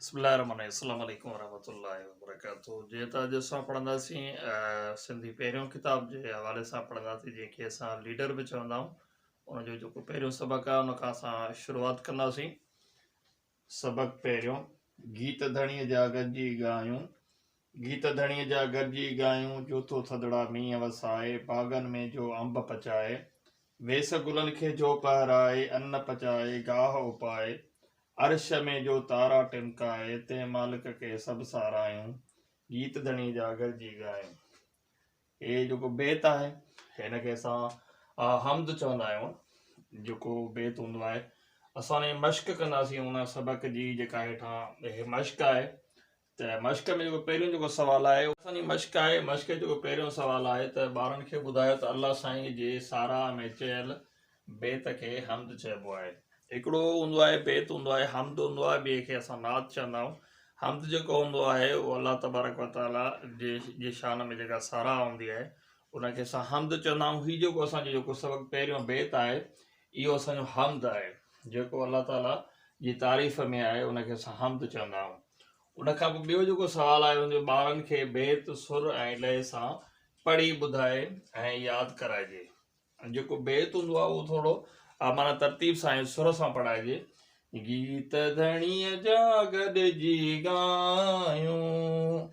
بسم الله الرحمن الرحيم السلام عليڪم ورحمة الله وبرڪاته جي ته اڄ اسان پڙهنداسين سنڌي پهريون ڪتاب جي حوالي سان پڙهنداسين جنهن کي اسان ليڊر به چوندا آهيون ان جو جيڪو پهريون سبق آهي ان کان اسان شروعات ڪنداسين سبق پهريون گيت ڌڻي جا گڏجي ڳايون گيت ڌڻيء جا گڏجي ڳايون، جو تو ٿڌڙا مينهن وسائي، باغن ۾ جو انب پچائي، ويس گلن کي جو پهرائي، ان پچائي، گاهه اپائي، عرش ۾ جو تارا ٽمڪائي، تنهن مالڪ کي سڀ سارايون، گيت ڌڻيء جا گڏجي ڳايون. هي جيڪو بيت آهي، هن کي اسان حمد چوندا آهيون. جيڪو بيت هوندو آهي، اسان ان جي مشق ڪنداسين، ان سبق جي جيڪا هيٺان مشق آهي، ته مشق ۾ جيڪو پهريون جيڪو سوال آهي اهو اسان جي مشق آهي مشق جو جيڪو پهريون سوال آهي ته ٻارن کي ٻڌايو ته الله سائين جي ساراهه ۾ چيل بيت کي حمد چئبو آهي هڪڙو هوندو آهي بيت هوندو آهي حمد هوندو آهي ٻئي کي اسان نعت چوندا آهيون حمد جيڪو هوندو آهي اهو الله تبارڪ وتعاليٰ جي جي شان ۾ جيڪا ساراهه هوندي آهي ان کي اسان حمد چوندا آهيون هي جيڪو اسان جو جيڪو سبق پهريون بيت آهي اهو اسان جو حمد آهي، جيڪو الله تعاليٰ جي تعريف ۾ آهي ان کي اسان حمد چوندا آهيون. ان کان پوء ٻيو جيڪو سوال آهي ان جو ٻارن کي بيت، سر ۽ لئه سان پڙهي ٻڌائي ۽ ياد ڪرائجي. جيڪو بيت هوندو آهي اهو ٿورو معنيٰ ترتيب سان ۽ سر سان پڙهائجي، گيت ڌڻيء جا گڏجي ڳايون.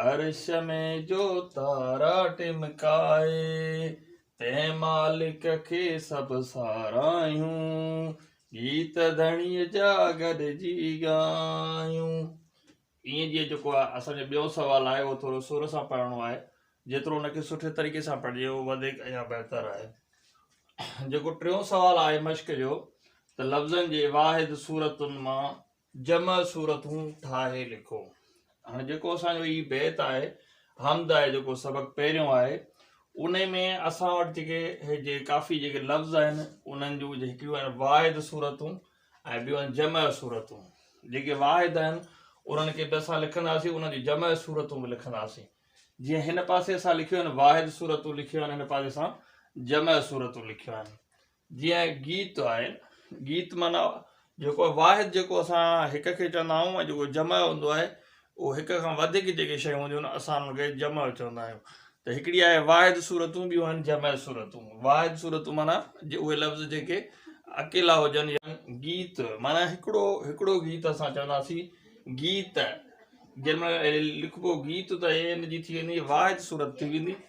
عرش ۾ جو تارا ٽمڪائي، تنهن مالڪ کي سڀ ساراهيون، گيت ڌڻيء جا گڏجي ڳايون. ائين جيئن جيڪو آهي اسان جو ٻيو سوال آهي اهو ٿورو سر سان پڙهڻو آهي جيترو ان کي سٺي طريقي سان پڙهجي اهو وڌيڪ يا بهتر آهي جيڪو ٽيون سوال آهي مشق جو ته لفظن جي واحد صورتن مان جمع سورتون ٺاهي لکو. هاڻي جيڪو اسان جو هي بيت آهي حمد آهي جيڪو سبق پهريون آهي انهي ۾ اسان وٽ جيڪي هي جي ڪافي جيڪي لفظ آهن انهن جون جي هڪڙيون آهن واحد سورتون ۽ ٻيون آهن جمع سورتون جيڪي واحد آهن انهن کي به اسان لکنداسين انهن جون جمع سورتون به لکنداسين جيئن هن پاسي اسان لکيون آهن واحد سورتون لکيون آهن هن پاسي اسان جمع سورتون لکيون آهن جيئن گيت آهي، گيت معنيٰ جيڪو واحد جيڪو اسان هڪ کي چوندا آهيون ۽ جيڪو جمع هوندو آهي اهو هڪ کان وڌيڪ جيڪي شيون هونديون آهن اسان انهن کي جمع چوندا آهيون ته هڪڙي آهي واحد صورتون ٻيون آهن جمع صورتون واحد صورتون معنيٰ اهي لفظ جيڪي اڪيلا هجن يا گيت معنيٰ هڪڙو هڪڙو گيت اسان چونداسين گيت جنهن ۾ لکبو گيت ته هي ان جي ٿي ويندي واحد صورت ٿي ويندي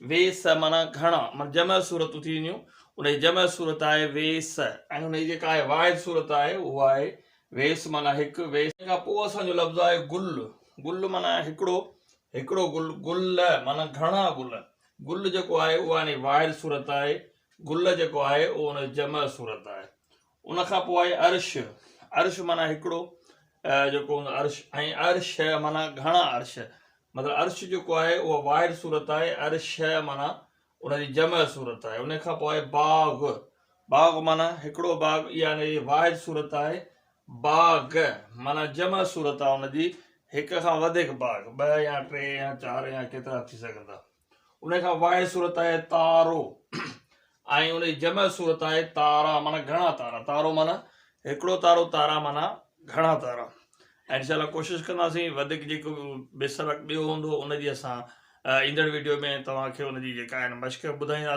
ويس معنيٰ گهڻا معنيٰ جمع صورتون ٿي وينديون ان جي جمع صورت آهي ويس ۽ ان جي جيڪا آهي واحد صورت آهي اهو آهي ويس معنيٰ هڪ ويس ان کان پوء اسان جو لفظ آهي گل گل معنيٰ هڪڙو هڪڙو گل گل معنيٰ گهڻا گل گل جيڪو آهي اهو آهي واحد صورت آهي گل جيڪو آهي اهو ان جي جمع صورت آهي ان کان پوء آهي عرش، عرش معنيٰ هڪڙو جيڪو هوندو آهي عرش ۽ عرش معنيٰ گهڻا عرش مطلب عرش جيڪو آهي اها واحد صورت آهي عرش معنيٰ ان جي جمع صورت آهي ان کان پوء آهي باغ، باغ معنيٰ هڪڙو باغ اها ان جي واحد صورت آهي باغ معنيٰ جمع صورت آهي ان جي هڪ کان وڌيڪ باغ ٻه يا ٽي يا چار يا ڪيترا ٿي سگهن ٿا. ان کان واحد صورت آهي تارو ۽ ان جي جمع صورت آهي تارا معنيٰ گهڻا تارا تارو معنيٰ هڪڙو تارو تارا معنيٰ گهڻا تارا ۽ انشاء الله ڪوشش ڪنداسين وڌيڪ جيڪو بي سبق ٻيو هوندو ان جي اسان ايندڙ ويڊيو ۾ توهان کي ان جي جيڪا آهن مشق ٻڌائينداسين